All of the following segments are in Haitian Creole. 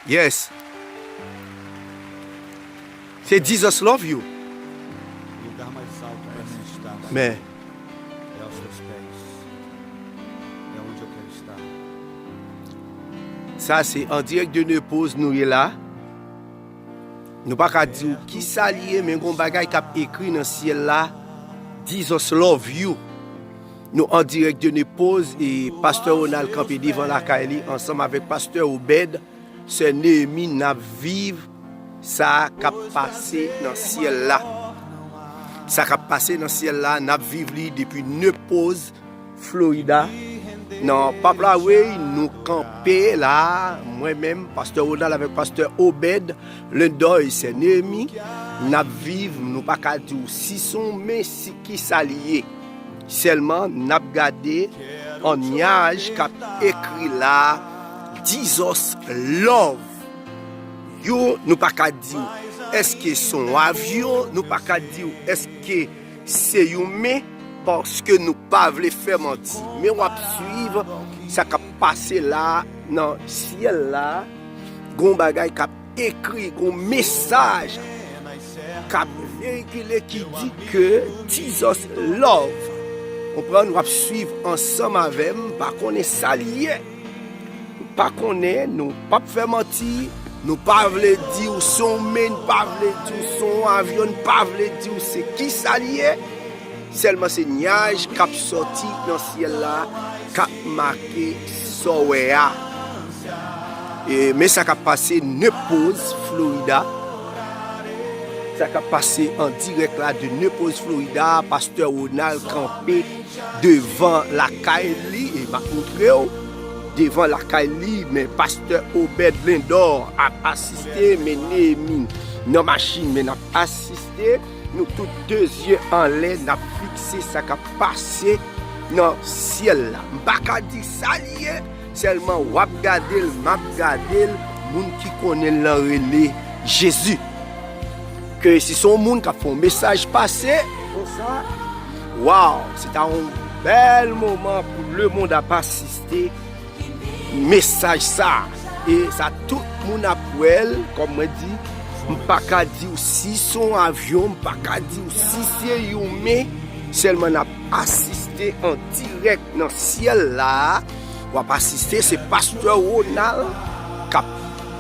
Yes Se Jesus love you Men Sa se en direct de Neupose nou ye la Nou pa ka di ou kisa li ye men gon bagay kap ekri nan syèl la Jesus love you Nou an dirèk de Nepoz e pastè Ronald kanpe devan lakay li ansanm avèk pastè Obed, sè Nehemie nap viv sa kap pase nan syèl la. Sa kap pase nan syèl la nap viv li depi Nepoz Florida nan pap la weyy nou kanpe la mwen menm pastè Ronald avèk pastè Obed Lendoy sè Nehemie nap viv nou paka diw si son men si kisa li ye. Sèlman nap gade on nyaj kap ekri la dizos love you nou paka diw eske son avyon nou paka diw eske se yon men paske nou pa vle fè manti men wap swiv sa kap pase la nan syèl la gon bagay kap ekri yon mesaj kap veyikile ki di ke Jesus love konprann wap swiv ansanm avèm pa konnen sa li ye nou pa konnen nou pap fè manti nou pa vle diw son men nou pa vle diw son avyon nou pa vle diw se kisa li ye. Sèlman se nyaj k ap sòti nan syèl la k ap make sa w wè a. Men sa k ap pase Nepoz, Florida. Sa k ap pase an dirèk la de Nepoz, Florida, pastè Ronald kanpe devan lakay li, e m ap montre w, devan lakay li, men pastè Obed Lindor ap asiste, men Nehemie nan machin, men n ap asiste. Nou tout 2 zye anlè nap fikse sa kap pase nan syèl la m paka di sa li ye sèlman wap gadel map gadel moun ki konnenl lan rele jezi ke si son moun kap fè yon mesaj pase konsa waw se ta yon bèl moman pou lemond ap asiste. mesaj sa e sa tout moun ap wèl kòm mwen di m paka diw si son avyon m paka diw si se yon men sèlman nap asiste an dirèk nan syèl la wap asiste se pastè Ronald kap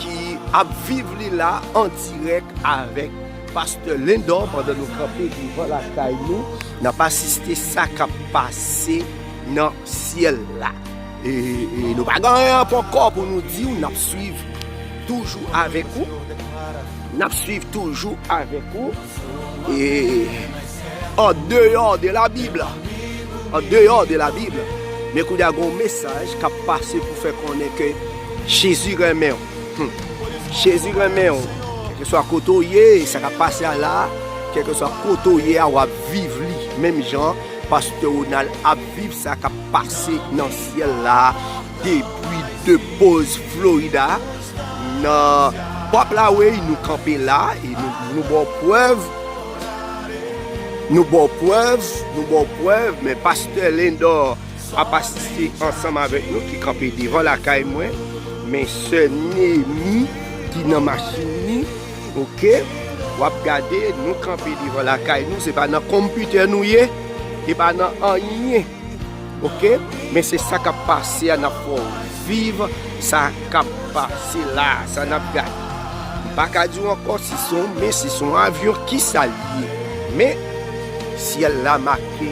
ki ap viv li la an dirèk avèk pastè Lindor pandan nou kanpe devan lakay nou nap asiste sa kap pase nan syèl la. Nou pa gen anyen ponkò pou nou di ou, nap swiv toujou avèk ou, nap swiv toujou avèk ou, e an deyò de la bib, an deyò de la bib, men kou da gon mesaj kap pase pou fè konnen ke Jezi renmen ou, Jezi renmen ou, kèlke swa kote ou ye, sa kap pase a la, kèlke swa kote ou ye a wap viv li, menm jan Pasteur Ronald ap. Viv sa kap pase nan syèl la depi de poz Florida nan pop la wey nou kanpe la e nou baw prèv nou baw prèv nou baw prèv men pastè Lindor ap asiste ansanm avèk nou ki kanpe devan lakay mwen men sè Nemi ki nan machin ni. Ok wap gade nou kanpe devan lakay nou se pa nan konpitè nou ye e pa nan anyen ok men se sa kap pase a nap fè w viv sa kap pase la sa nap gade m pa ka di w ankò si se yon men si se yon avyon kisa l ye men syèl la make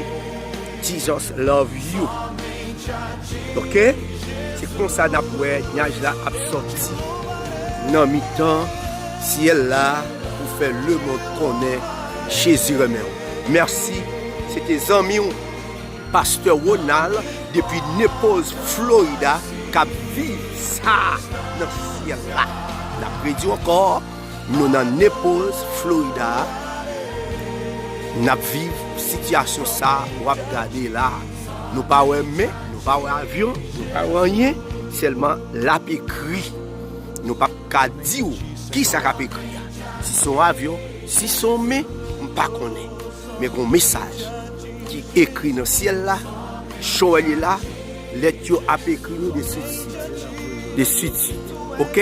Jesus love you ok se konsa nap wè nyaj la ap sòti nan mitan syèl la pou fè lemond konnen Jezi renmen w mèsi se te zanmi w pastè Ronald depi Naples Florida kap viv sa nan syèl la nap redi w ankò. Nou nan Naples, Florida a nap viv sitiyasyon sa wap gade la a. Nou pa wè men, nou pa wè avyon, nou pa wè anyen, sèlman lap ekri. Nou pap ka di ou kisa kap ekri a. Si son avyon, si son men, m pa konnen. Men gon mesaj ki ekri nan syèl la, Joel ye la, lèt yo ap ekri nou de suit suit, de suit suit. Ok.